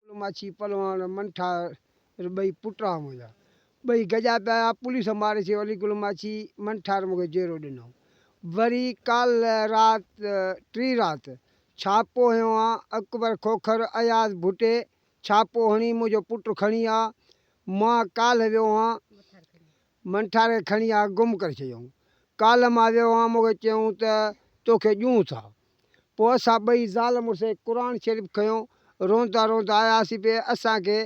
پلو ماڇي پلواڻ منٺا ر ٻئي پٽ آ منهنجا ٻئي گڏجا پيا آيا پوليس ماري ڇي ولي گل ماڇي منٺا ر مونکي جيرو ڏنائون وري ڪالھ رات ٽي رات ڇاپو هنيو آ اڪبر کوکر اياز ڀٽي ڇاپو هڻي منهنجو پٽ کڻي آ مان ڪالھ ويو هان من ٺاري کڻي آ گم ڪري ڇڏيائون. ڪالهه مان ويو هئان مونکي چيائون ته توکي ڏيون ٿا. پوء اسان ٻئي زال مڙس قرآن شريف کنيو روندا روندا آياسين پئي اسان کي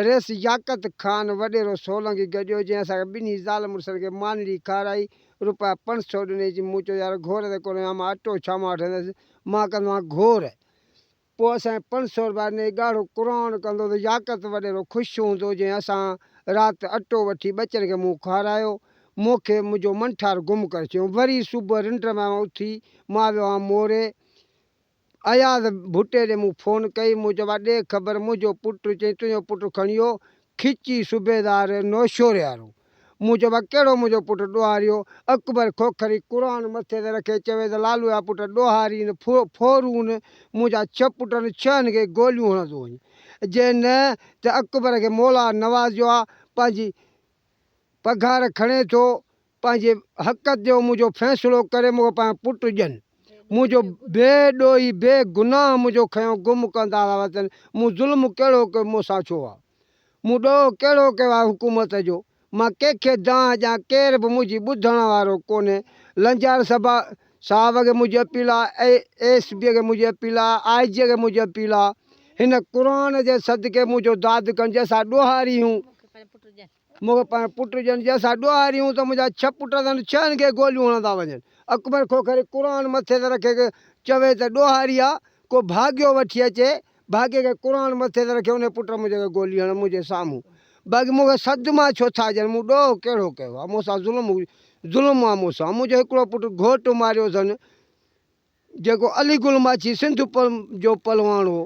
رئيس ياقت خان وڏيرو سولنگي گڏيو جنهن اسان کي ٻنهي زال مڙسن کي مانڙي کارائي روپيا پنج سئو ڏنيس مون چيو يار گهور ته ڪونه هئان مان اٽو ڇا مان وٺندس مان ڪندو هئان گهور. پوء اسان پنج سؤ روپيا ڏئي ڳاڙهو قرآن ڪندو ته ياقت وڏيرو خوش هوندو جنهن اسان رات اٽو وٺي ٻچن کي مون کارايو. مون کي منهنجو منٺار گم ڪري ڇڏيو. وري صبح رنڊ مان اٿي مان ويو هان موري. اياز ڀٽي ڏي مون فون ڪئي. مون چيو ڀاء ڏي خبر منهنجو پٽ چئي تنهنجو پٽ کڻيو کچي صوبيدار نوشهري وارو. مون چيو ڀلا ڪهڙو منهنجو پٽ ڏوهاريو؟ اڪبر کوکري قرآن مٿي تي رکي چوي ته لالو جا پٽ ڏوهاري نه ڦورون، منهنجا ڇهه پٽن ڇهن کي گوليون هڻندو وڃ، جي نه ته اڪبر کي مولا نوازيو آ، پنهنجي پگهار کڻي ٿو، پنهنجي حق تي هو منهنجو فيصلو ڪري مون کي پنهنجا پٽ ڏين، منهنجو بي ڏوهي بي گناهه منهنجو کنيو گم ڪندا ٿا وتن، مون ظلم ڪهڙو ڪيو مون سان ڇو آ؟ مون ڏوهه ڪهڙو ڪيو آهي حڪومت جو؟ مان ڪنهن کي دانهن ڏيان، ڪير به منهنجي ٻڌڻ وارو ڪونهي. لنجار سبا صاحب کي منهنجي اپيل آ، اي ايس پي کي منهنجي اپيل آ، آء جي کي منهنجي اپيل آ. هن قرآن جي صدقي منهنجو داد ڪن، جي اسان ڏوهاري هيون. مون کي پنهنجو پٽ ڄڻ جنهن سان ڏوهاريون ته منهنجا ڇهه پٽ اٿن ڇهن کي گوليون هڻندا وڃن. اڪبر کوکري قرآن مٿي تي رکي چوي ته ڏوهاري آ ڪو ڀاڳيو وٺي اچي ڀاڳي کي قرآن مٿي تي رکي انهي پٽ منهنجي کي گولي هڻن منهنجي سامهون باقي مون کي صدما ڇو ٿا ڏين مون ڏوهه ڪهڙو ڪيو آ مون سان ظلم ظلم آ مون سان منهنجو هڪڙو پٽ گهوٽ ماريو اٿن. جيڪو علي گل ماڇي سنڌ جو پهلوان هو.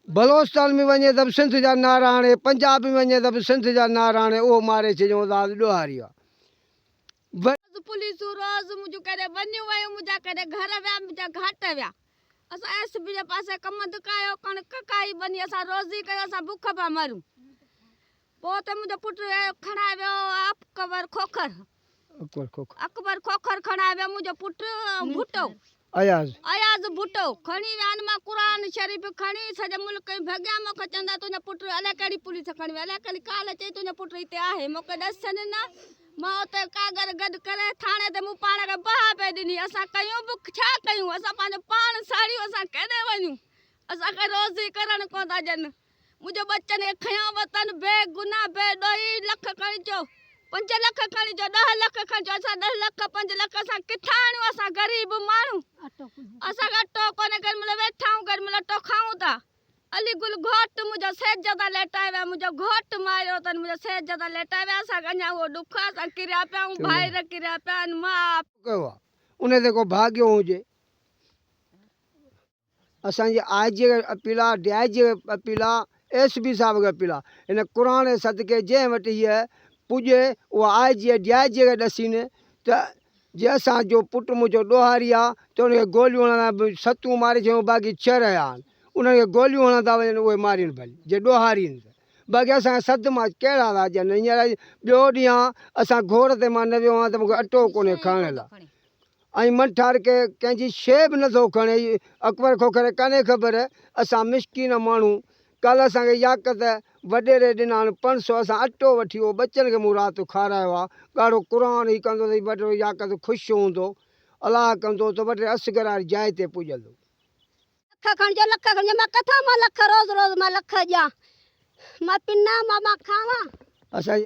بلوچستان ۾ وڃي ته به سنڌ جا نعرا هڻي، پنجاب ۾ وڃي ته به سنڌ جا نعرا هڻي، اهو ماري ڇڏيائون ذات ڏوهاري آ. وري. روز پوليسون روز منهنجون ڪيڏي ونيون ويون منهنجا ڪيڏي گهر ويا منهنجا گهاٽ ويا اسان ايس پي جي پاسي ڪم دڪايو ڪڻڪ ڪاهي ٻني اسان روزي ڪيو اسان بک ڀا مرون. پوء ته منهنجو پٽ کڻائي ويو اڪبر کوکر. اڪبر کوکر کڻائي ويو منهنجو پٽ ۽ ڀٽو. اياز ڀٽو کڻي ويا آهن. مان قرآن شريف کڻي سڄي ملڪ ۽ ڀڳيان مون کي چوندا تنهنجو پٽ الائي ڪهڙي پوليس کڻي ويئي الائي ڪهڙي ڪالهه چئي تنهنجو پٽ هتي آهي مون کي ڏس ڇڏين نه مان اتي ڪاڳر گڏ ڪري ٿاڻي تي مون پاڻ کي بها پئي ڏني اسان ڪيون به ڇا ڪيون اسان پنهنجو پاڻ ساڙيو اسان ڪيڏي وڃون اسان کي روزي ڪرڻ ڪونه ٿا ڏين. منهنجو ٻچن کي کنيو وتن بي گناهه بي ڏوهي لک کڻي چئو پنج لک کڻي چئو ڏهه لک کڻي چئو اسان ڏهه لک پنج لک اسان ڪٿان آڻيون اسان غريب ماڻهو اسان کي اٽو ڪونهي ڪري مليو ويٺا آهيون ڪري مليو اٽو کائون ٿا علي گل گهوٽ منهنجو سيج تان ليٽائي ويا منهنجو گهوٽ ماريو اٿن منهنجو سيج تان ليٽائي ويا اسان کي اڃا اهو ڏک آهي اسان ڪريا پيا آهيون ڀائر ڪريا پيا آهن ماء ڪيو آهي ان تي ڪو ڀاڳيو هجي. اسان جي آء جي کي به اپيل آ ڊي آء جي کي به اپيل آ ايس پي صاحب کي اپيل آ ان قرآن جي صدقي جنهن وٽ هيء پڄي اهو آء جي ڊي آء جي کي ڏسين ته جي اسان جو پٽ منهنجو ڏوهاري آ ته ان کي گوليون هڻڻ به ستون ماري ڇڏيون باقي ڇهه رهيا آهن انهن کي گوليون هڻندا وڃن اهي مارين ڀلي جي ڏوهارين ته باقي اسان کي سڌ مان ڪهڙا ٿا اچن هينئر ٻيو ڏينهن آ اسان گهوڙ تي مان نه ويو آهيان ته مون کي اٽو ڪونهي کائڻ لاء ائين من ٺار ڪي ڪنهن جي شيء به نه ٿو کڻي اهي اڪبر کوکر ڪانهي خبر اسان مسڪين ماڻهو ڪالهه اسان کي ياقت وڏيري ڏنائن پنج سو اسان اٽو وٺي اهو ٻچن کي مون رات کارايو آ ڳاڙهو قرآن هي ڪندو ته وڏيرو ياقت خوش هوندو الاهه ڪندو ته وڏيري اصغر واري جاء تي پڄندو. لک کڻجو لک کڻجو مان ڪٿان مان لک روز روز مان لک ڏيان مان پنان مان مان کاوان. اسان.